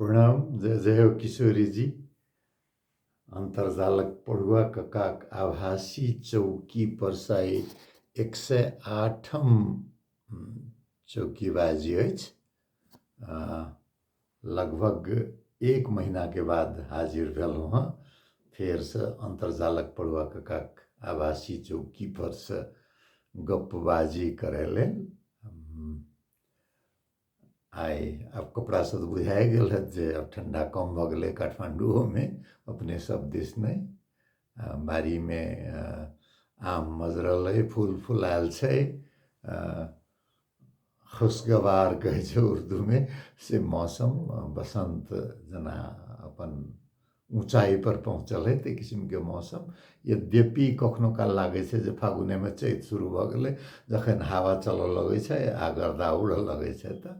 प्रणाम जय जय हो किशोरी जी अन्तर्जालक पढ़ुआ ककाक आभासी चौकी पर साइज एक सय आठम चौकीबाजी अछि लगभग एक महीनाके बाद हाजिर भेलहुँ हँ फेरसँ अन्तर्जालक पढ़ुआ ककाक आभासी चौकी परसँ गप्पबाजी करै लेल आइ आब कपड़ासँ तऽ बुझाए गेल हएत जे आब ठण्डा कम भऽ गेलै काठमाण्डुओमे अपने सब दिस नहि आ बाड़ीमे आ, आम मजरल अइ फूल फुलाएल छै आ, खुशगवार कहै छै उर्दूमे से मौसम बसन्त जेना अपन ऊँचाइ पर पहुँचल है ताहि किसिमके मौसम यद्यपि कखनो काल लागै छै जे फागुनेमे चैत शुरू भऽ गेलै जखन हवा चलऽ लगै छै आ गर्दा उड़ऽ लगै छै तऽ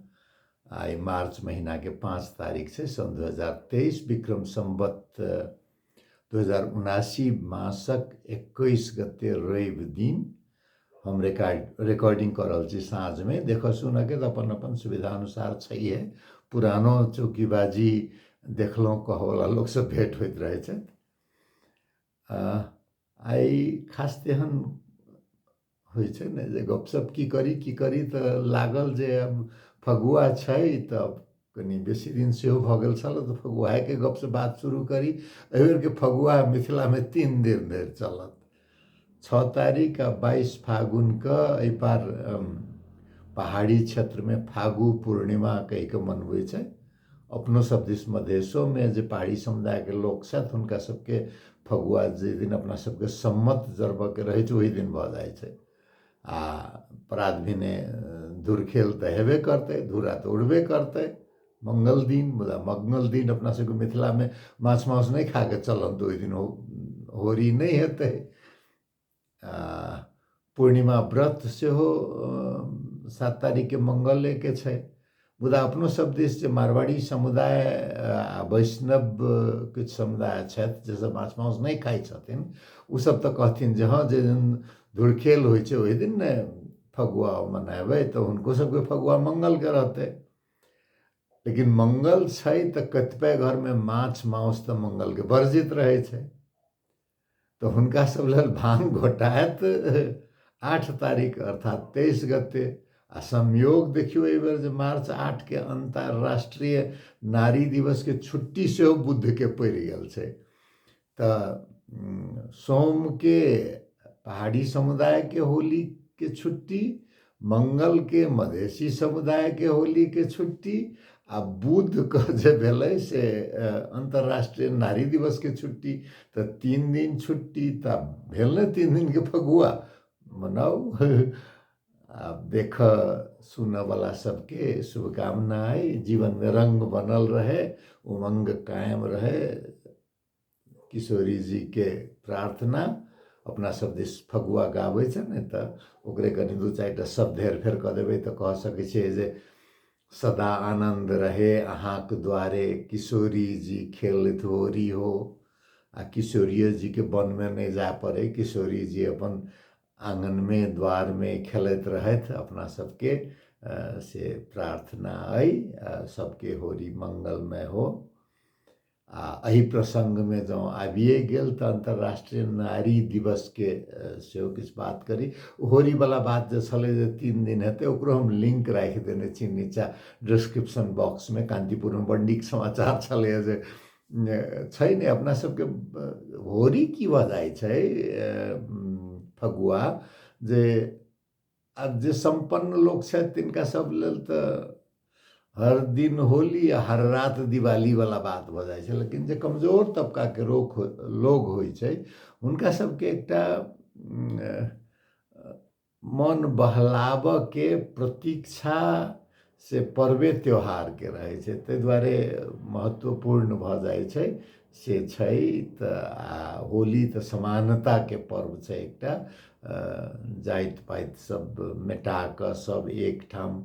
आइ मार्च महीनाके पाँच तारीख छै सन दू हजार तेइस विक्रम सम्बत दू हजार उनासी मासक एकैस गते रवि दिन हम रिकॉर्ड रिकॉर्डिंग कऽ रहल छी साँझमे देखऽ सुनऽके तऽ अपन अपन सुविधा अनुसार छैहे पुरानो चौकीबाजी देखलहुँ कहऽवला लोकसँ भेँट होइत रहै छथि आइ खास तेहन होइ छै ने जे गपशप की करी की करी तऽ लागल जे आब फगुआ छै तऽ कनि बेसी दिन सेहो भऽ गेल छल तऽ फगुआके गपसँ बात शुरू करी एहिबेरके फगुआ मिथिलामे तीन दिन धरि चलत छओ तारीख आ बाइस फागुनके एहिपार पहाड़ी क्षेत्रमे फागु पूर्णिमा कहि कऽ मनबै छै अपनो सब दिस मधेशोमे जे पहाड़ी समुदायके लोक छथि हुनका सबके फगुआ जाहि दिन अपना सबके सम्मत जरबऽके रहै छै ओहि दिन भऽ जाइ छै आ प्रात भेने धुर खेल तऽ हेबे करतै धूरा तऽ उड़बे करतै मंगल दिन मुदा मंगल दिन अपना सबके मिथिलामे माछ मांस नहि खा कऽ चलब तऽ ओहि दिन होरी नहि हेतै आ पूर्णिमा व्रत सेहो सात तारीखके मंगलेके छै मुदा अपनो सब दिस जे मारवाड़ी समुदाय आ वैष्णव किछु समुदाय छथि जे सब माछ मांस नहि खाइ छथिन ओ सब तऽ कहथिन जे हँ जे दिन धुरखेल होइ छै ओहि दिन ने फगुआ मनेबै तऽ हुनको सबके फगुआ मंगलके रहतै लेकिन मंगल छै तऽ कतिपय घरमे माछ मांस तऽ मंगलके वर्जित रहै छै तऽ हुनका सब लेल भांग घोटायत आठ तारीख अर्थात तेइस गते आ संयोग देखियौ एहि बेर जे मार्च आठ के अंतर्राष्ट्रीय नारी दिवस के छुट्टी सेहो बुद्ध के पड़ि गेल छै तऽ सोम के पहाड़ी समुदाय के होली के छुट्टी मंगलके मधेसी समुदायके होलीके छुट्टी आ बुधके जे भेलै से अन्तर्राष्ट्रीय नारी दिवसके छुट्टी तऽ तीन दिन छुट्टी तऽ भेल ने तीन दिनके फगुआ मनाउ आ देख सुनऽवला सबके शुभकामना अइ जीवनमे रङ्ग बनल रहै उमङ्ग कायम रहै किशोरी जी के प्रार्थना अपना सब दिस फगुआ गाबै छै ने तऽ ओकरे कनि दू चारि टा शब्द हेर फेर कऽ देबै तऽ कह सकै छियै जे सदा आनन्द रहे अहाँके द्वारे किशोरी जी खेलैत होरी हो आ किशोरियो जीके वनमे नहि जाय पड़ै किशोरी जी अपन आङ्गनमे द्वारमे खेलैत रहथि अपना सबके से प्रार्थना अइ सबके होरी मङ्गलमय हो आ एहि प्रसङ्गमे जँ आबिए गेल तऽ अन्तर्राष्ट्रीय नारी दिवसके सेहो किछु बात करी होरीवला बात जे छलै जे तीन दिन हेतै ओकरो हम लिङ्क राखि देने छी नीचाँ डिस्क्रिप्शन बॉक्समे कान्तिपुरमे बड नीक समाचार छलैए जे छै ने अपना सबके होरी की भऽ जाइ छै फगुआ जे आ जे सम्पन्न लोक छथि तिनका सब लेल तऽ हर दिन होली आ हर रात दिवाली वाला बात भऽ जाइ छै लेकिन जे कमजोर तबका के रोग लोग होइ छै हुनका सबके एकटा मन बहलाबऽ के प्रतीक्षा से पर्वे त्यौहारके रहै छै ताहि दुआरे महत्वपूर्ण भऽ जाइ छै से छै तऽ आ होली तऽ समानताके पर्व छै एकटा जाति पाति सब मेटा कऽ सब एकठाम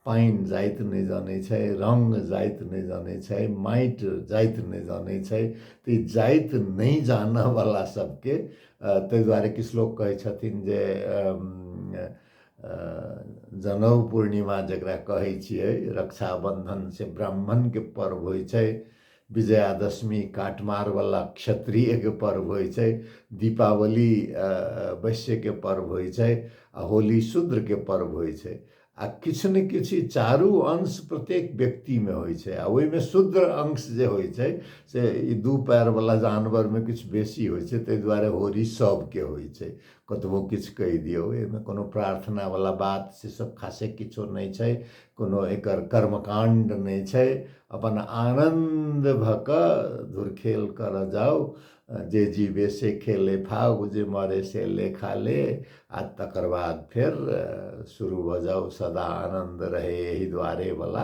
पानि जाइत नहि जानै छै रङ्ग जाइत नहि जानै छै माटि जाइत नहि जानै छै तऽ ई जाति नहि जानऽवला सबके ताहि दुआरे किछु लोक कहै छथिन जे जनउ पूर्णिमा जकरा कहै छियै रक्षाबन्धन से ब्राह्मणके पर्व होइ छै विजयादशमी काटमारवला क्षत्रियके पर्व होइ छै दीपावली वैश्यके पर्व होइ छै आ होली शूद्रके पर्व होइ छै आ किछु ने किछु चारू अंश प्रत्येक व्यक्तिमे होइ छै आ ओहिमे शुद्र अंश जे होइ छै से ई दू पएरवला जानवरमे किछु बेसी होइ छै ताहि दुआरे होरी सभके होइ छै कतबो किछु कहि दियौ एहिमे कोनो प्रार्थनावला बात से सभ खासे किछो नहि छै कोनो एकर कर्मकाण्ड नहि छै अपन आनन्द भऽ कऽ धुरखेल करय जाउ जे जीवे से खेले फाउ जे मरे से लेखा ले आ तकर बाद फेर शुरू भऽ जाउ सदा आनन्द रहय एहि दुआरेवला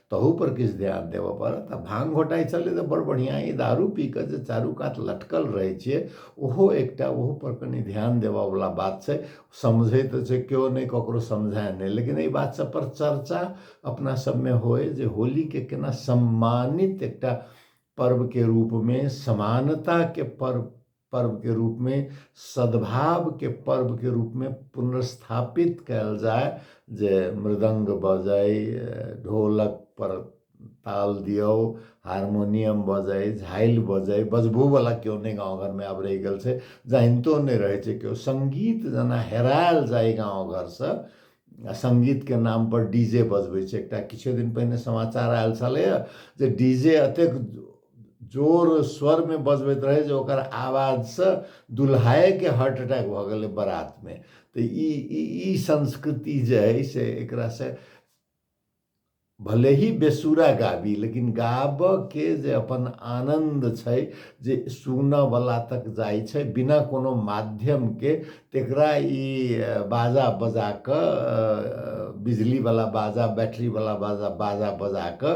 तहूपर किछु ध्यान देबय पड़त आ भाँग घोटाइत छलै तऽ बड़ बढ़िआँ ई दारू पी कऽ जे चारू कात लटकल रहै छियै ओहो एकटा ओहोपर कनि ध्यान देबयवला बात छै समझै तऽ छै केओ नहि ककरो समझाए नहि लेकिन एहि बात सभपर चर्चा अपना सभमे होय जे होलीकेँ केना सम्मानित एकटा पर्वके रूपमे समानताके पर्व पर्व के रूप में सद्भाव के पर्व के रूप में पुनर्स्थापित कल जाए जे मृदंग बजाय ढोलक पर ताल दियो हारमोनियम बजाय झाइल बजाय बजबो वाला क्यों नहीं गाँव घर में अब रह गल से जानतो नहीं रहे छे क्यों संगीत जना हेरायल जाए गाँव घर से संगीत के नाम पर डीजे बजबे एक किछे दिन पहले समाचार आयल छे जे डीजे अतेक जोर स्वरमे बजबैत रहै जे ओकर आवाजसँ दुल्हाएके हार्ट अटैक भऽ गेलै बारातमे तऽ ई ई संस्कृति जे अइ से एकरासँ भले ही बेसुरा गाबी लेकिन गाबऽके जे अपन आनन्द छै जे सुनऽवला तक जाइ छै बिना कोनो माध्यमके तकरा ई बाजा बजा कऽ बिजलीवला बाजा बैटरीवला बाजा बाजा बजा कऽ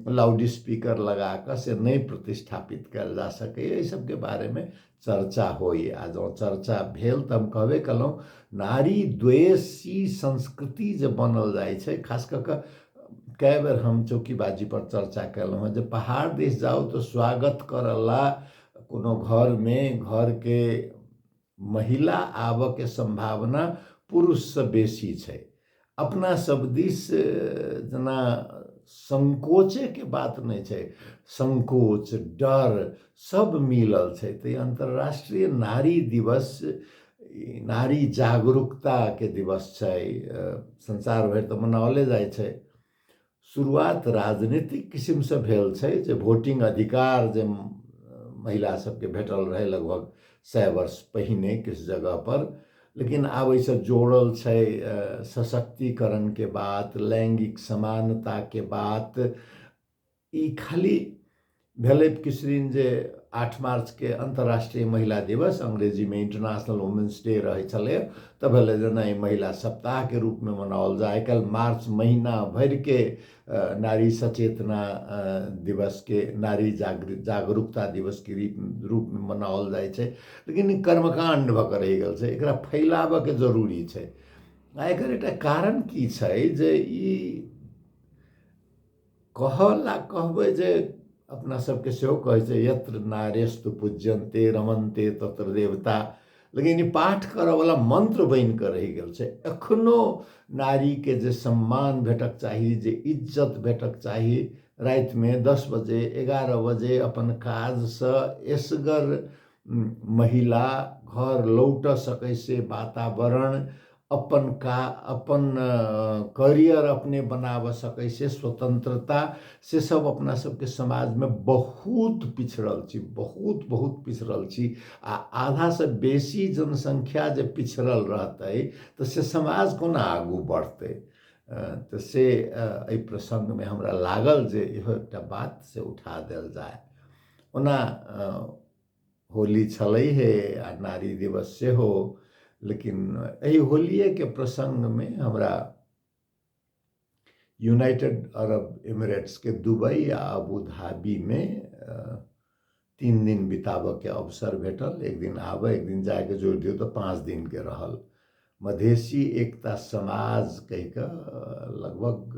लाउड स्पीकर लगा कऽ से नहि प्रतिष्ठापित कयल जा सकैए एहि सभके बारेमे चर्चा होइए आ जँ चर्चा भेल तऽ हम कहबे कयलहुँ नारी द्वेषी संस्कृति जे बनल जाइ छै खास कऽ कऽ कए बेर हम चौकीबाजीपर चर्चा कयलहुँ हेँ जे पहाड़ दिस जाउ तऽ स्वागत करय ला कोनो घरमे घरके महिला आबऽके सम्भावना पुरुषसँ बेसी छै अपना सब दिस जेना संकोचेके बात नहि छै संकोच डर सब मिलल छै तऽ अन्तर्राष्ट्रीय नारी दिवस नारी जागरूकताके दिवस छै संसार भरि तऽ मनाओले जाइ छै शुरुआत राजनीतिक किसिमसँ भेल छै जे भोटिंग अधिकार जे महिला सबके भेटल रहै लगभग सए वर्ष पहिने किछु जगह पर लेकिन आब एहिसँ जोड़ल छै सशक्तिकरणके बात लैङ्गिक समानताके बात ई खाली भेलै किसरिन जे आठ मार्चके अन्तर्राष्ट्रिय महिला दिवस अङ्ग्रेजीमे इन्टरनेसनल वुमेन्स डे रहै छलै तऽ भेलै जे नहि महिला सप्ताहके रूपमे मनाओल जाय आइ काल्हि मार्च महिना भरिके नारी सचेतना दिवसके नारी जागृत जागरूकता दिवसके रूपमे मनाओल जाइ छै लेकिन ई कर्मकाण्ड भऽ कऽ रहि गेल छै एकरा फैलाबयके जरूरी छै आ एकर एकटा कारण की छै जे ई कहल आ कहबै जे अपना सबके सेहो कहै छै यत्र नारेस्तु पूज्यन्ते रमन्ते तत्र देवता लेकिन ई पाठ करऽवला मन्त्र बनि कऽ रहि गेल छै एखनो नारीके जे सम्मान भेटक चाही जे इज्जत भेटक चाही रातिमे दस बजे एगारह बजे अपन काजसँ एसगर महिला घर लौटऽ सकै से वातावरण अपन का अपन करियर अपने बनाबऽ सकै से स्वतंत्रता से सब अपना सबके समाजमे बहुत पिछड़ल छी बहुत बहुत पिछड़ल छी आ आधासँ बेसी जनसङ्ख्या जे पिछड़ल रहतै तऽ से समाज कोना आगू बढ़तै तऽ से एहि प्रसङ्गमे हमरा लागल जे इहो एकटा बात से उठा देल जाय ओना होली छलै हे आ नारी दिवस सेहो लेकिन एहि होलिएके प्रसङ्गमे हमरा यूनाइटेड अरब इमिरेट्सके दुबई आ अबू धाबीमे तीन दिन बिताबऽके अवसर भेटल एक दिन आबऽ एक दिन जाके जोड़ि दियौ तऽ पाँच दिनके रहल मधेसी एकता समाज कहिकऽ लगभग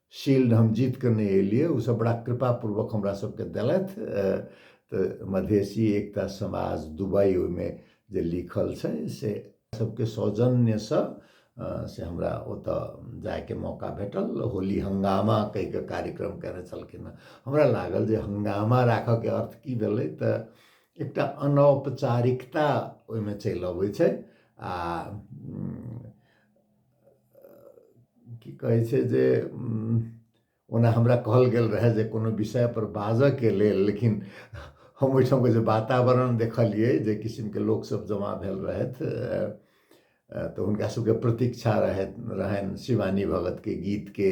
शील्ड हम जीत कऽ नहि एलियै ओसभ बड़ा कृपापूर्वक हमरा सभके देलथि तऽ मधेसी एकता समाज दुबई ओहिमे जे लिखल छै से सभके सौजन्यसँ से हमरा ओतऽ जायके मौका भेटल होली हंगामा कहि कऽ कार्यक्रम कयने छलखिन हँ हमरा लागल जे हंगामा राखऽके अर्थ की भेलै तऽ एकटा अनौपचारिकता ओहिमे चलि अबै छै आ की कहै छै जे ओना हमरा कहल गेल रहए जे कोनो विषयपर बाजयके लेल लेकिन हम ओहिठामके जे वातावरण देखलियै जे किसिमके लोकसभ जमा भेल रहथि तऽ हुनका सभके प्रतीक्षा रहथि रहनि शिवानी भगतके गीतके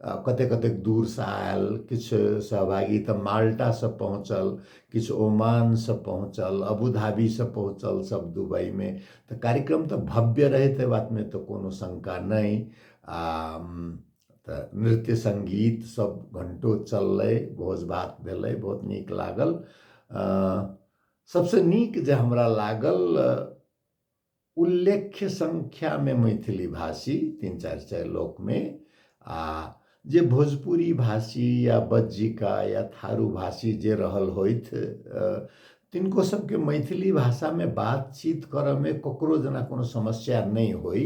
कतेक कतेक दूरसँ आयल किछु सहभागी तऽ माल्टासँ पहुँचल किछु ओमानसँ पहुँचल अबुधाबीसँ पहुँचल सभ दुबइमे तऽ कार्यक्रम तऽ भव्य रहै ताहि बातमे तऽ कोनो शङ्का नहि आ तऽ नृत्य सङ्गीत सभ घण्टो चललै भोज भात भेलै बहुत नीक लागल सभसँ नीक जे हमरा लागल उल्लेख्य संख्यामे मैथिली भाषी तीन चारि चारि लोकमे आ जे भोजपुरी भाषी या बज्जिका या थारू भाषी जे रहल होथि तिनको सबके मैथिली भाषामे बातचीत करऽमे ककरो जेना कोनो समस्या नहि होइ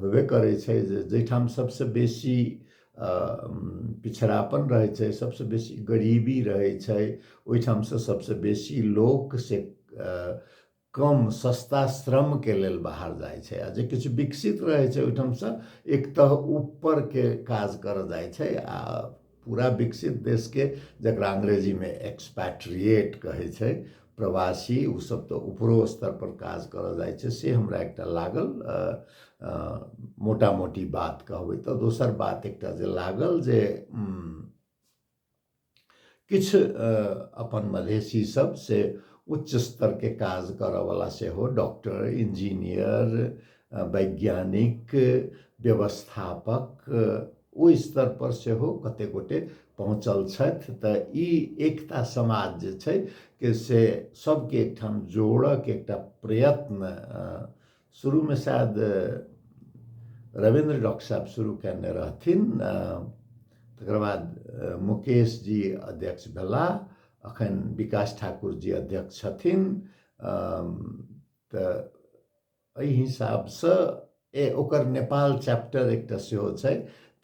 होबे करै छै जे जाहिठाम सबसँ बेसी पिछड़ापन रहै छै सबसँ बेसी गरीबी रहै छै ओहिठामसँ सबसँ बेसी लोक से कम सस्ता श्रमके लेल बाहर जाइ छै आ जे किछु विकसित रहै छै ओहिठामसँ एक तह ऊपरके काज कर जाइ छै आ पूरा विकसित देशके जकरा अंग्रेजीमे एक्सपैट्रिएट कहै छै प्रवासी ओसभ तऽ ऊपरो स्तरपर काज कर जाइ छै से हमरा एकटा लागल मोटा मोटी बात कहबै तऽ दोसर बात एकटा जे लागल जे किछु अपन मधेसी सब से उच्च स्तर के काज करऽ वाला सेहो डॉक्टर इंजीनियर वैज्ञानिक व्यवस्थापक ओहि स्तर पर सेहो कते गोटे पहुँचल छथि तऽ ई एकता समाज जे छै के से सबके एकठाम जोड़क एकटा प्रयत्न शुरू में शायद रविंद्र डॉक्टर साहब शुरू कयने रहथिन तकर बाद मुकेश जी अध्यक्ष भेला अखन विकास ठाकुर जी अध्यक्ष छथिन तऽ एहि हिसाबसँ ए ओकर नेपाल चैप्टर एकटा सेहो छै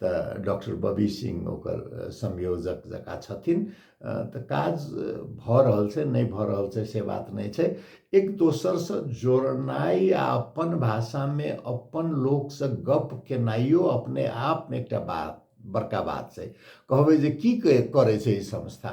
तऽ डॉक्टर बबी सिंह ओकर संयोजक जकाँ छथिन तऽ काज भऽ रहल छै नहि भऽ रहल छै से बात नहि छै एक दोसरसँ जोड़नाइ आ अपन भाषामे अपन लोकसँ गप केनाइयो अपने आपमे एकटा बात बड़का बात छै कहबै जे की करै छै ई संस्था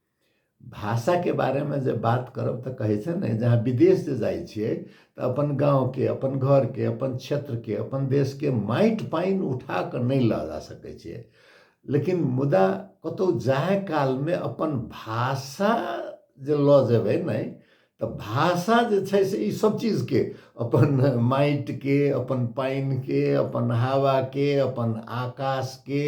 भाषाके बारेमे जे बात करब तऽ कहै छै ने जहाँ विदेश जे जाइ छियै तऽ अपन गाँवके अपन घरके अपन क्षेत्रके अपन देशके माटि पानि उठा कऽ नहि लऽ जा सकै छियै लेकिन मुदा कतहु जाय कालमे अपन भाषा जे लऽ जेबै ने तऽ भाषा जे छै से ई सब चीजके अपन माटिके अपन पानिके अपन हवाके अपन आकाशके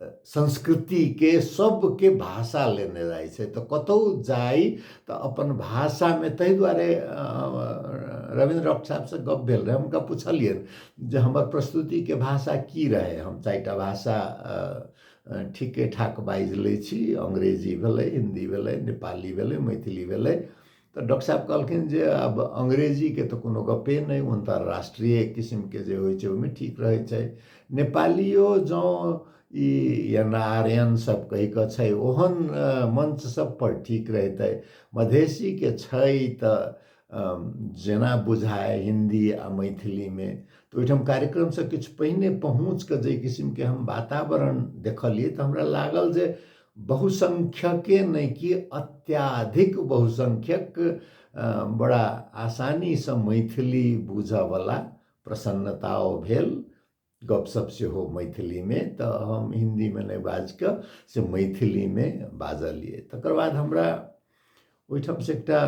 संस्कृतिके सबके भाषा लेने जाइ छै तऽ कतहु जाइ तऽ अपन भाषामे ताहि दुआरे रविन्द्र रॉक साहबसँ गप्प भेल रहै हुनका पुछलियनि जे हमर प्रस्तुतिके भाषा की रहै हम चारि टा भाषा ठीके ठाक बाजि लै छी अंग्रेजी भेलै हिंदी भेलै नेपाली भेलै मैथिली भेलै तऽ डॉक्टर साहेब कहलखिन जे आब अंग्रेजीके तऽ कोनो गप्पे नहि ओ तऽ राष्ट्रीय किसिमके जे होइ छै ओहिमे ठीक रहै छै नेपालिओ जँ ई एना आर्यनसभ कहि कऽ छै ओहन मञ्च सभपर ठीक रहितै मधेशीके छै तऽ जेना बुझाय हिन्दी आ मैथिलीमे तऽ ओहिठाम कार्यक्रमसँ किछु पहिने पहुँचि कऽ जाहि किसिमके हम वातावरण देखलियै तऽ हमरा लागल जे बहुसङ्ख्यके नहि कि अत्याधिक बहुसङ्ख्यक बड़ा आसानीसँ मैथिली बुझऽवला प्रसन्नताओ भेल गपशप सेहो मैथिलीमे तऽ हम हिन्दीमे नहि बाजिकऽ से मैथिलीमे बाजलिए तकर बाद हमरा ओहिठामसँ एकटा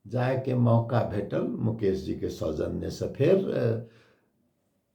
जायके मौका भेटल मुकेश जीके सौजन्यसँ फेर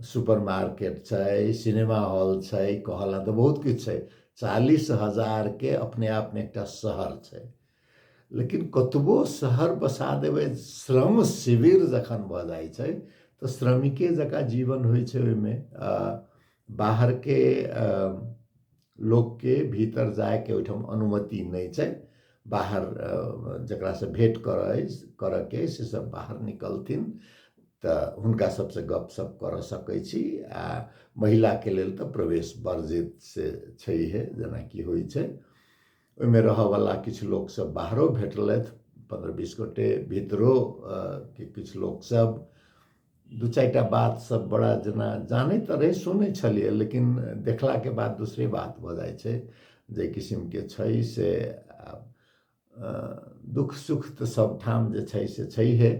सुपर मार्केट छै सिनेमा हॉल छै कहऽ लए तऽ बहुत किछु छै चालीस हजारके अपने आपमे एकटा शहर छै लेकिन कतबो शहर बसा देबै श्रम शिविर जखन भऽ जाइ छै तऽ श्रमिके जकाँ जीवन होइ छै ओहिमे बाहरके लोकके भीतर जायके ओहिठाम अनुमति नहि छै बाहर जकरासँ भेँट करय करयके अइ सेसभ बाहर निकलथिन तऽ हुनका सभसँ गपशप करऽ सकै छी आ महिलाके लेल तऽ प्रवेश वर्जित से छैहे जेनाकि होइ छै ओहिमे रहयवला किछु लोकसभ बाहरो भेटलथि पन्द्रह बीस गोटए भीतरो के किछु लोकसभ दू चारि टा बात सब बड़ा जेना जानै तऽ रहै सुनै छलियै लेकिन देखलाके बाद दोसरे बात भऽ जाइ छै जे किसिमके छै से दुःख सुख तऽ सबठाम जे छै से छैहे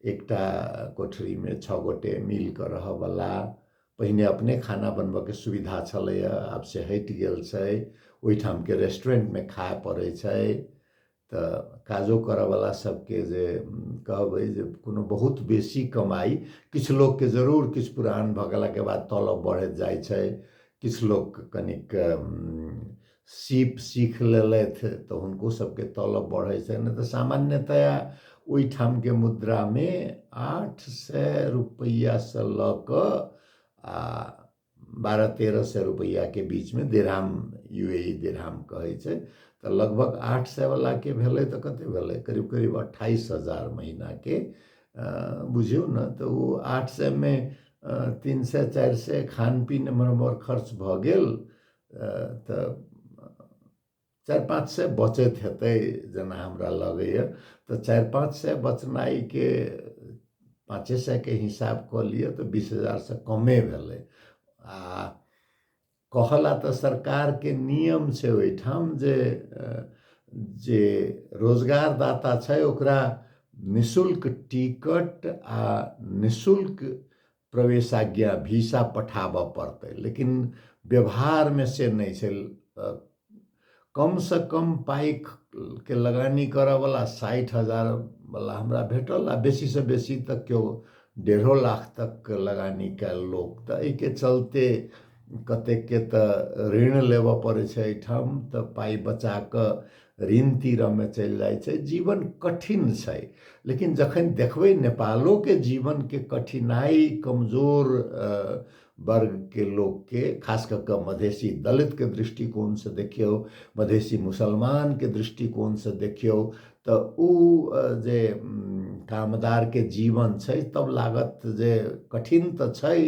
एकटा कोठरीमे छओ गोटे मिल कऽ रहऽवला पहिने अपने खाना बनबऽके सुविधा छलैए आब से हटि गेल छै ओहिठामके रेस्टोरेन्टमे खाय पड़ै छै तऽ काजो करऽवला सबके जे कहबै जे कोनो बहुत बेसी कमाइ किछु लोकके जरूर किछु पुरान भऽ गेलाके बाद तलब बढ़ैत जाइ छै किछु लोक कनिक सीप सीख लेलथि तऽ हुनको सबके तलब बढ़ै छै नहि तऽ सामान्यतया ओहिठामके मुद्रामे आठ सए रुपैआसँ लऽ कऽ आ बारह तेरह सए रुपैआके बीचमे दिरहाम यू ए ई दिरहाम कहै छै तऽ लगभग आठ सएवलाके भेलै तऽ कतेक भेलै करीब करीब अट्ठाइस हजार महीनाके बुझियौ ने तऽ ओ आठ सएमे तीन सए चारि सए खान पीन एम्हर ओम्हर खर्च भऽ गेल तऽ चारि पाँच सए बचैत हेतै जेना हमरा लगैए तऽ चारि पाँच सए बचनाइके पाँचे सएके हिसाब कऽ लिअ तऽ बीस हजारसँ कमे भेलै आ कहला तऽ सरकारके नियम छै ओहिठाम जे जे रोजगारदाता छै ओकरा निशुल्क टिकट आ निशुल्क प्रवेशाज्ञा भिसा पठाबऽ पड़तै लेकिन व्यवहारमे से नहि छै कमसँ कम पाइके लगानी करऽवला साठि हजारवला हमरा भेटल आओर बेसीसँ बेसी तऽ केओ डेढ़ो लाख तकके लगानी कएल लोक तऽ एहिके चलिते कतेकके तऽ ऋण लेबऽ पड़ै छै एहिठाम तऽ पाइ बचाकऽ ऋण तीरमे चलि जाइ छै जीवन कठिन छै लेकिन जखन देखबै नेपालोके जीवनके कठिनाइ कमजोर वर्गके लोकके खास कऽ कऽ मधेसी दलितके दृष्टिकोणसँ देखियौ मधेसी मुसलमानके दृष्टिकोणसँ देखियौ तऽ ओ जे कामदारके जीवन छै तब लागत जे कठिन तऽ छै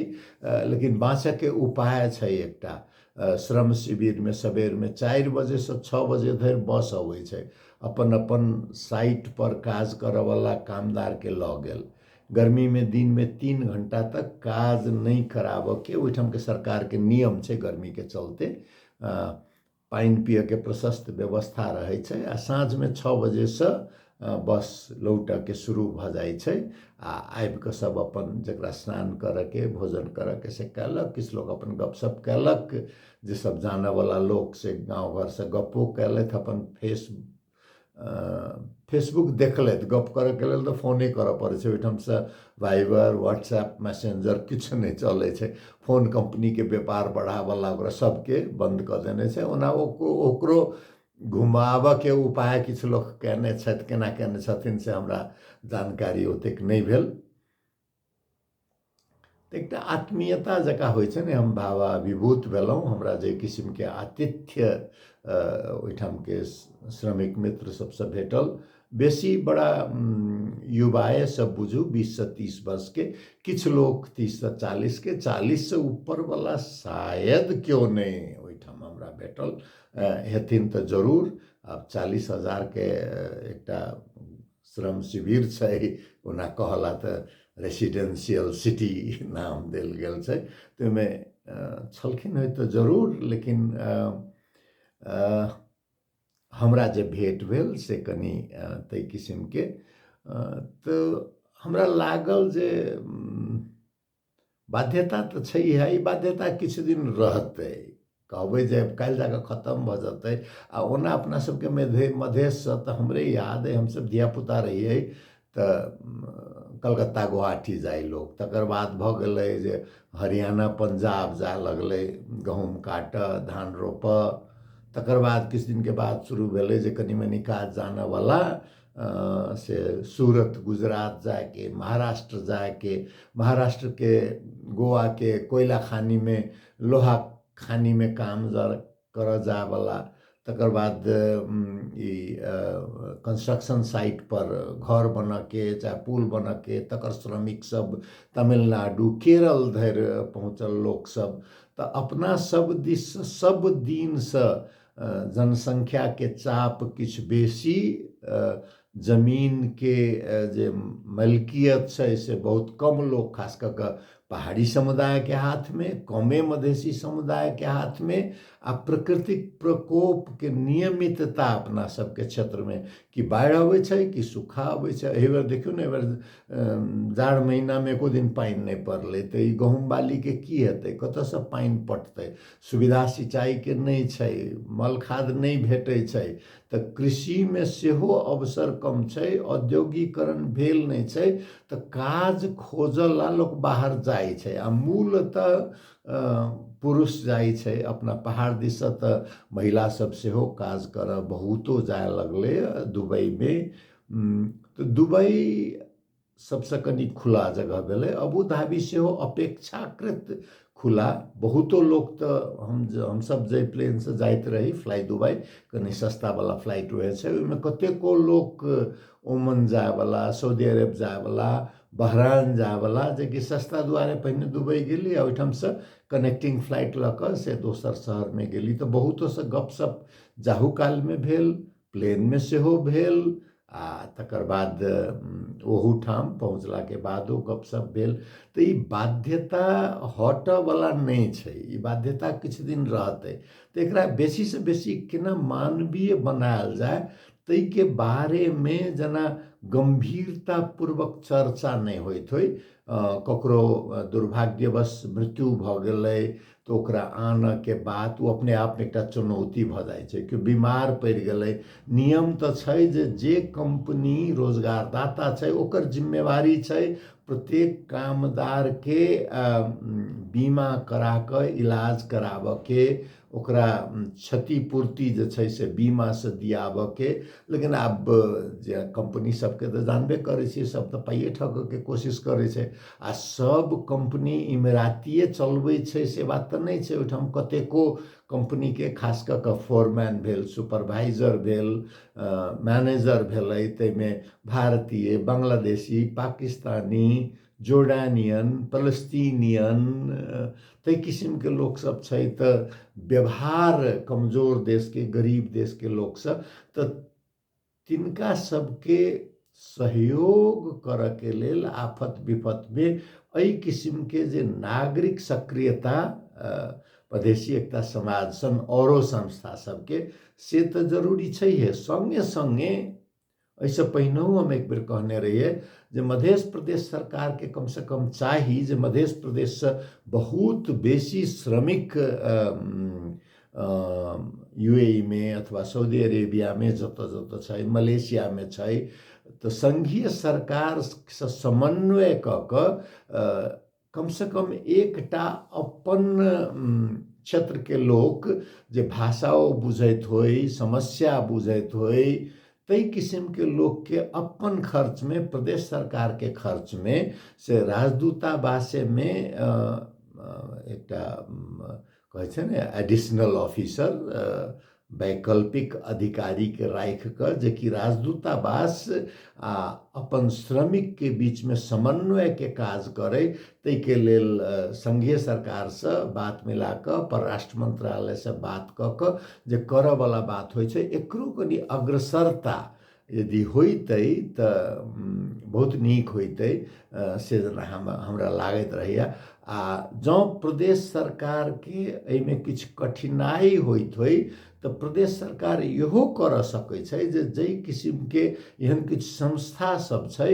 लेकिन बाँचयके उपाय छै एकटा श्रम शिविरमे सबेरमे चारि बजेसँ छओ बजे धरि बस अबै छै अपन अपन साइटपर काज करऽवला कामदारके लऽ गेल गर्मीमे दिनमे तीन घण्टा तक काज नहि कराबऽके ओहिठामके सरकारके नियम छै गर्मीके चलते पानि पिअऽके प्रशस्त व्यवस्था रहै छै आओर साँझमे छओ बजेसँ बस लौटऽके शुरू भऽ जाइ छै आ आबि कऽ सभ अपन जकरा स्नान करऽके भोजन करऽके से कयलक किछु लोक अपन गप सप कयलक जे सभ जानऽ बला लोक से गाँव घरसँ गप्पो कयलथि अपन फेस फेसबुक देखलथि गप करऽके लेल तऽ फोने करऽ पड़ै छै ओहिठामसँ वाइबर व्हाट्सएप मैसेन्जर किछु नहि चलै छै फोन कम्पनीके व्यापार बढ़ाबऽ लागल सभके बन्द कऽ देने छै ओना ओकरो ओकरो घुमाबऽके उपाय किछु लोक कयने छथि केना कयने छथिन से हमरा जानकारी ओतेक नहि भेल तऽ एकटा आत्मीयता जकाँ होइ छै ने हम भावा विभूत भेलहुँ हमरा जे किसिमके आतिथ्य ओहिठामके श्रमिक मित्र सभसँ भेटल बेसी बड़ा युवाएसँ बुझू बीससँ तीस वर्षके किछु लोक तीससँ चालीसके चालीससँ ऊपरवला शायद केओ नहि ओहिठाम हमरा भेटल हेथिन तऽ जरूर आब चालीस हजारके एकटा श्रम शिविर छै ओना कहला तऽ रेसिडेंशियल सिटी नाम देल गेल छै तऽ ओहिमे छलखिन हँ तऽ जरूर लेकिन हमरा जे भेट भेल से कनि ताहि किसिमके तऽ हमरा लागल जे बाध्यता तऽ छै इएह ई बाध्यता किछु दिन रहतै कहबै जे काल्हि जाकऽ खतम भऽ जेतै आ ओना अपना सबके मधे मधेशसँ तऽ हमरे याद अइ हमसब धियापुता रहियै तऽ कलकत्ता गुवाहाटी जाइ लोक तकर बाद भऽ गेलै जे हरियाणा पंजाब जाय लगलै गहूँम काटऽ धान रोपऽ तकर बाद किछु दिनके बाद शुरू भेलै जे कनी मनी काज जानऽवला से सूरत गुजरात जाके महाराष्ट्र जाके महाराष्ट्र के गोवा के कोयला खानी में लोहा खानी में काम जर कर जाए वाला तकर बाद ई कंस्ट्रक्शन साइट पर घर बन के चाहे पुल बन के तकर श्रमिक सब तमिलनाडु केरल धरि पहुँचल लोक सब तऽ अपना सब दिस सब दिन से जनसङ्ख्याके चाप किछु बेसी जमीनके जे मलकियत छै से बहुत कम लोक खास कऽ कऽ पहाड़ी समुदायके हाथमे कमे मधेसी समुदायके हाथमे आ प्रकृतिक प्रकोपके नियमितता अपना सबके क्षेत्रमे कि बाढ़ि अबै छै कि सूखा अबै छै एहि बेर देखियौ ने एहि बेर जाड़ महीनामे एको दिन पानि नहि पड़लै तऽ ई गहूँम बालीके की हेतै कतऽसँ पानि पटतै सुविधा सिंचाइके नहि छै मल खाद नहि भेटै छै तऽ कृषिमे सेहो अवसर कम छै औद्योगिकरण भेल नहि छै तऽ काज खोजऽ लए लोक बाहर जाइ छै आ मूलतः पुरुष जाइ छै अपना पहाड़ दिससँ तऽ महिला सब सेहो काज करऽ बहुतो जाय लगलैए दुबइमे तऽ दुबइ सबसँ कनि खुला जगह भेलै अबू धाबी सेहो अपेक्षाकृत खुला बहुतो लोक तऽ हम हमसभ जाहि प्लेनसँ जाइत रही फ्लाइ दुबइ कनि सस्तावला फ्लाइट रहै छै ओहिमे कतेको लोक ओमन जायवला सऊदी अरब जायवला बहरान जायवला जेकि सस्ता दुआरे पहिने दुबइ गेली आ ओहिठामसँ कनेक्टिंग फ्लाइट लऽ कऽ से दोसर शहरमे गेली तऽ बहुतोसँ गपशप जाहू कालमे भेल प्लेनमे सेहो भेल आ तकर बाद ओहूठाम पहुँचलाके बादो गपशप भेल तऽ ई बाध्यता हटऽवला नहि छै ई बाध्यता किछु दिन रहतै तऽ एकरा बेसीसँ बेसी केना मानवीय बनायल जाय ताहिके बारेमे जेना गम्भीरतापूर्वक चर्चा नहि होइत होइ ककरो दुर्भाग्यवश मृत्यु भऽ गेलै तऽ ओकरा आनऽके बात ओ अपने आपमे एकटा चुनौती भऽ जाइ छै कि बीमार पड़ि गेलै नियम तऽ छै जे जे कम्पनी रोजगारदाता छै ओकर जिम्मेवारी छै प्रत्येक कामदारके बीमा करा कऽ इलाज कराबऽके ओकरा क्षतिपूर्ति जे छै से बीमासँ दियाबऽके लेकिन आब जे कम्पनी सभके तऽ जानबे करै छियै सभ तऽ पाइए ठकऽके कोशिश करै छै आ सब कंपनी इमरातिए चलबै छै से बात तऽ नहि छै ओहिठाम कतेको कंपनीके खास कऽ कऽ फोरमैन भेल सुपरवाइजर भेल मैनेजर भेलै ताहिमे भारतीय बांग्लादेशी पाकिस्तानी जोर्डानियन फलस्तीनियन ताहि किसिमके लोकसभ छै तऽ व्यवहार कमजोर देशके गरीब देशके लोकसभ तऽ तिनका सबके सहयोग करके लेल आफत विपतमे एहि किसिमके जे नागरिक सक्रियता प्रदेशी एकता समाज सन औरो संस्था सबके से तऽ जरूरी छैहे सङ्गे सङ्गे एहिसँ पहिनहु हम एक बेर कहने रहियै जे मध्य प्रदेश सरकारके कमसँ कम चाही जे मध्य प्रदेशसँ बहुत बेसी श्रमिक युएइमे अथवा साउदी अरेबियामे जतऽ जतऽ छै मलेसियामे छै तऽ सङ्घीय सरकारसँ समन्वय कऽ कऽ कमसँ कम एकटा अपन क्षेत्रके लोक जे भाषा ओ बुझैत होइ समस्या बुझैत होइ ताहि किसिमके लोकके अपन खर्चमे प्रदेश सरकारके खर्चमे से राजदूतावासेमे एकटा कहै छै ने एडिशनल ऑफिसर वैकल्पिक अधिकारीके राखि कऽ जेकि राजदूतावास आ अपन श्रमिकके बीचमे समन्वयके काज करै ताहिके लेल सङ्घीय सरकारसँ बात मिला कऽ परराष्ट्र मन्त्रालयसँ बात कऽ कऽ जे करयवला बात होइ छै एकरो कनि अग्रसरता यदि होइतै तऽ बहुत नीक होइतै से हम हमरा लागैत रहैए आ जँ प्रदेश सरकारके एहिमे किछु कठिनाइ होइत होइ तऽ प्रदेश सरकार इहो करऽ सकैत छै जे जाहि किसिमके एहन किछु संस्था सब छै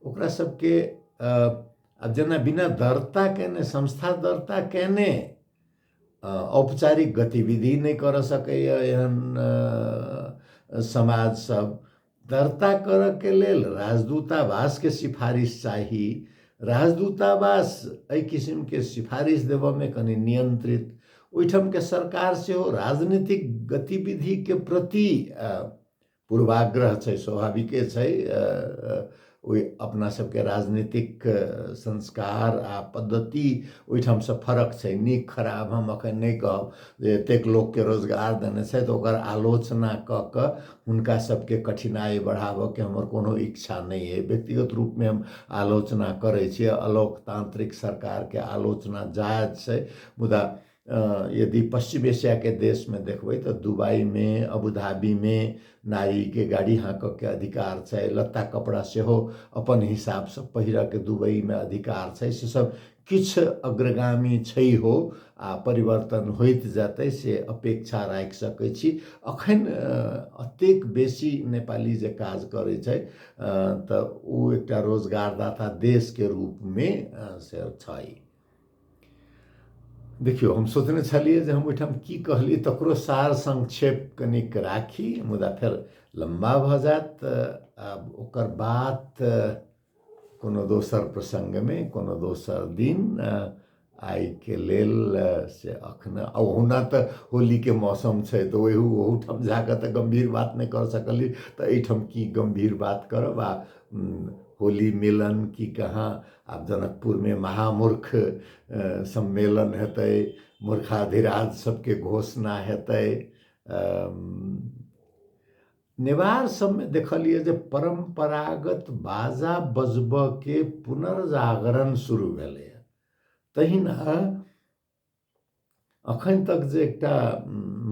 ओकरा सबके जेना बिना दर्ता कयने संस्था दर्ता कयने औपचारिक गतिविधि नहि करऽ सकैए एहन समाजसभ दर्ता करऽके लेल राजदूतावासके सिफारिश चाही राजदूतावास एहि किसिमके सिफारिश देबऽमे कनि नियन्त्रित ओहिठामके सरकार सेहो राजनीतिक गतिविधिके प्रति पूर्वाग्रह छै स्वाभाविके छै ओहि अपना सबके राजनीतिक संस्कार आ पद्धति ओहिठामसँ फरक छै नीक खराब हम अखन नहि कहब जे एतेक लोकके रोजगार देने छै तऽ ओकर आलोचना कऽ कऽ हुनका सबके कठिनाइ बढ़ाबऽके हमर कोनो इच्छा नहि अइ व्यक्तिगत रूपमे हम आलोचना करै छी अलोकतांत्रिक सरकारके आलोचना जायज छै मुदा यदि पश्चिम एशियाके देशमे देखबै तऽ दुबइमे अबुधाबीमे नारीके गाड़ी हाँकऽके अधिकार छै लत्ता कपड़ा सेहो अपन हिसाबसँ पहिरऽके दुबइमे अधिकार छै से सब किछु अग्रगामी छै हो आओर परिवर्तन होइत जेतै से अपेक्षा राखि सकै छी एखन एतेक बेसी नेपाली जे काज करै छै तऽ ओ एकटा रोजगारदाता देशके रूपमे से छै देखियौ हम सोचने छलियै जे हम ओहिठाम की कहलियै तकरो सार संक्षेप कनिक राखी मुदा फेर लम्बा भऽ जायत आब ओकर बात कोनो दोसर प्रसङ्गमे कोनो दोसर दिन आइके लेल से अखन ओहुना तऽ होलीके मौसम छै तऽ ओहि ओहूठाम जा कऽ तऽ गम्भीर बात नहि कऽ सकलियै तऽ एहिठाम की गम्भीर बात करब आ होली मिलन की कहाँ आब जनकपुरमे महामूर्ख सम्मेलन हेतै मूर्खाधिराज सबके घोषणा हेतै नेवार सबमे देखलियै जे परम्परागत बाजा बजबऽके पुनर्जागरण शुरू भेलैए तहिना अखन तक जे एकटा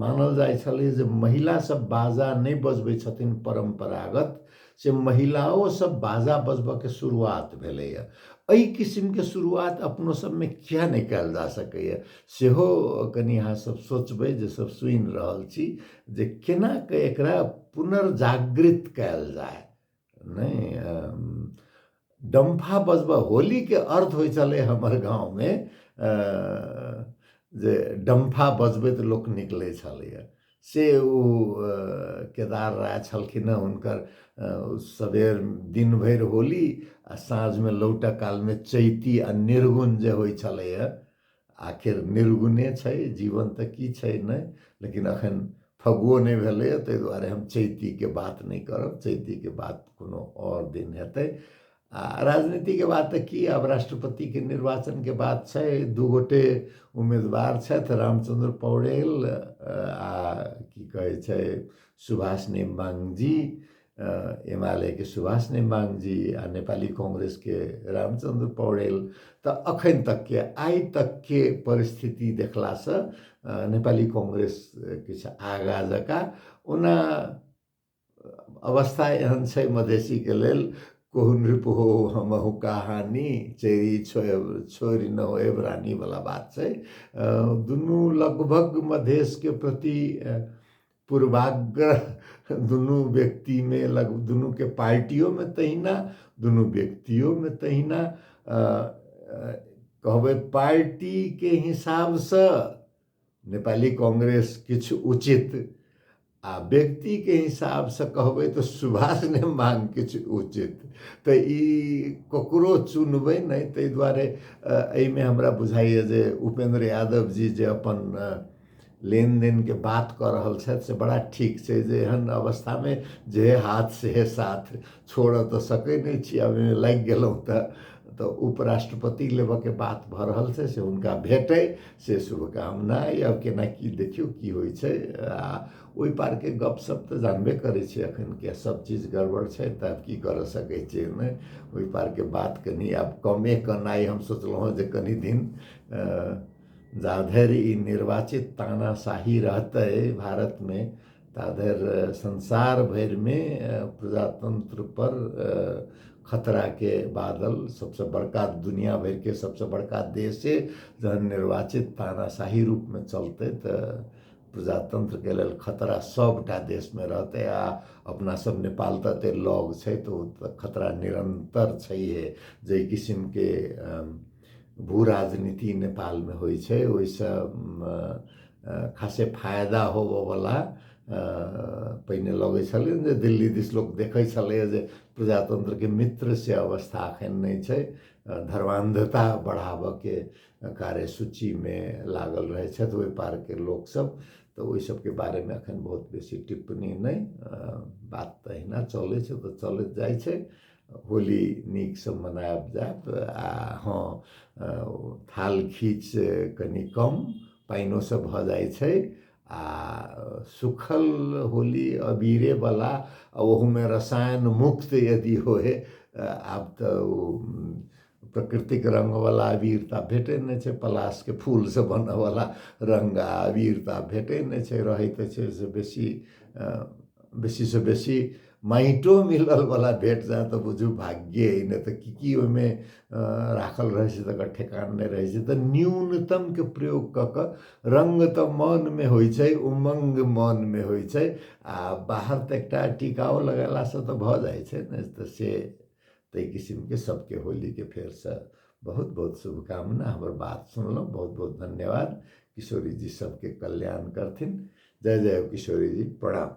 मानल जाइ छलै जे महिलासभ बाजा नहि बजबै छथिन परम्परागत से महिलाओसभ बाजा बजबऽके शुरुआत भेलैए एहि किसिमके शुरुआत अपनो सभमे किए नहि कयल जा सकैए सेहो कनि अहाँसभ सोचबै जे सभ सुनि रहल छी जे केना कऽ एकरा पुनर्जागृत कयल जाय नहीं डम्फा बजबा होली के अर्थ हो चले हमर गांव में जे डम्फा बजबे तो लोग निकले छे से ओ केदार राय छलखिन हँ हुनकर सबेर दिन भरि होली आ साँझमे लौटऽ कालमे चैती आ निर्गुण जे होइ छलैए आखिर निर्गुणे छै जीवन तऽ की छै नहि लेकिन एखन फगुओ नहि भेलैए ताहि दुआरे हम चैतीके बात नहि करब चैतीके बात कोनो आओर दिन हेतै आ राजनीतिके बात तऽ की आब राष्ट्रपतिके निर्वाचनके बात छै दू गोटे उम्मीदवार छथि रामचंद्र पौडेल आ की कहै छै सुभाष नेमांग जी एमालेके सुभाष नेमाङजी आ नेपाली काङ्ग्रेसके रामचन्द्र पौडेल तऽ अखन तकके आइ तकके परिस्थिति देखलासँ नेपाली काङ्ग्रेस किछु आगाँ जकाँ ओना अवस्था एहन छै मधेसीके लेल कोहुन रिपु हो हमहु कहानी चेरी छो छोरी न हो एबरानी वाला बात छै दुनू लगभग मधेशके प्रति पूर्वाग्रह दुनू व्यक्तिमे लग दुनूके पार्टियोमे तहिना दुनू व्यक्तियोमे तहिना कहबै पार्टीके हिसाबसँ नेपाली काङ्ग्रेस किछु उचित आ व्यक्तिके हिसाबसँ कहबै तऽ सुभाष ने मांग किछु उचित तऽ ई ककरो चुनबै नहि ताहि दुआरे एहिमे हमरा बुझाइए जे उपेन्द्र यादव जी जे अपन लेनदेनके बात कऽ रहल छथि से बड़ा ठीक छै जे एहन अवस्थामे जे हाथ सेहे साथ छोड़ऽ तऽ सकै नहि छी आब एहिमे लागि गेलहुँ तऽ तऽ उपराष्ट्रपति लेबऽके बात भऽ रहल छै से हुनका भेटै से शुभकामना अइ आब केना की देखियौ की होइ छै आ ओहि पारके गपशप तऽ जानबे करै छियै एखन के सभ चीज गड़बड़ छै तऽ आब की करऽ सकै छियै ओहिमे ओहि पारके बात कनि आब कमे केनाइ हम सोचलहुँ हेँ जे कनि दिन अ, जाधर ई निर्वाचित तानाशाही रहतै भारतमे ताधर संसार भरिमे प्रजातंत्र पर खतराके बादल सबसे बड़का दुनिया भरिके सबसे बड़का देशे जहन निर्वाचित तानाशाही रूपमे चलतै तऽ प्रजातन्त्रके लेल खतरा सभटा देशमे रहतै आ अपनासभ नेपाल तऽ एतेक लग छै तऽ ओ तऽ खतरा निरन्तर छैहे जाहि किसिमके भू राजनीति नेपालमे होइ छै ओहिसँ खासे फायदा होबयवला पहिने लगै छलै जे दिल्ली दिस लोक देखै छलैए जे प्रजातन्त्रके मित्र से अवस्था एखन नहि छै धर्मान्धता बढ़ाबयके कार्यसूचीमे लागल रहै छथि ओहि पारके लोकसभ तऽ ओहि सभके बारेमे एखन बहुत बेसी टिप्पणी नहि बात तऽ अहिना चलै छै तऽ चलैत जाइ छै होली नीकसँ मनायब जायत आ हँ थाल खीच कनि कम पानिओसँ भऽ जाइ छै आ सुखल होली अबीरेवला आ ओहूमे रसायन मुक्त यदि होय आब तऽ ओ प्रकृतिक रङ्गवला अबीर तऽ आब भेटै नहि छै पलाशके फूलसँ बनऽवला रङ्ग आओर अबीर तऽ आब भेटै नहि छै रहै तऽ छै से बेसी बेसीसँ बेसी माटिओ मिललवला भेट जाएत तऽ बुझू भाग्ये अइ नहि तऽ कि कि ओहिमे राखल रहै छै तकर ठेकान नहि रहै छै तऽ न्यूनतमके प्रयोग कऽ कऽ रङ्ग तऽ मोनमे होइ छै उमङ्ग मोनमे होइ छै आओर बाहर तऽ एकटा टिकाउ लगेलासँ तऽ भऽ जाइ छै ने तऽ से ताहि किसिमके सबके होलीके फेरसँ बहुत बहुत शुभकामना हमर बात सुनलहुँ बहुत बहुत धन्यवाद किशोरी जी सबके कल्याण करथिन जय जय हो किशोरी जी प्रणाम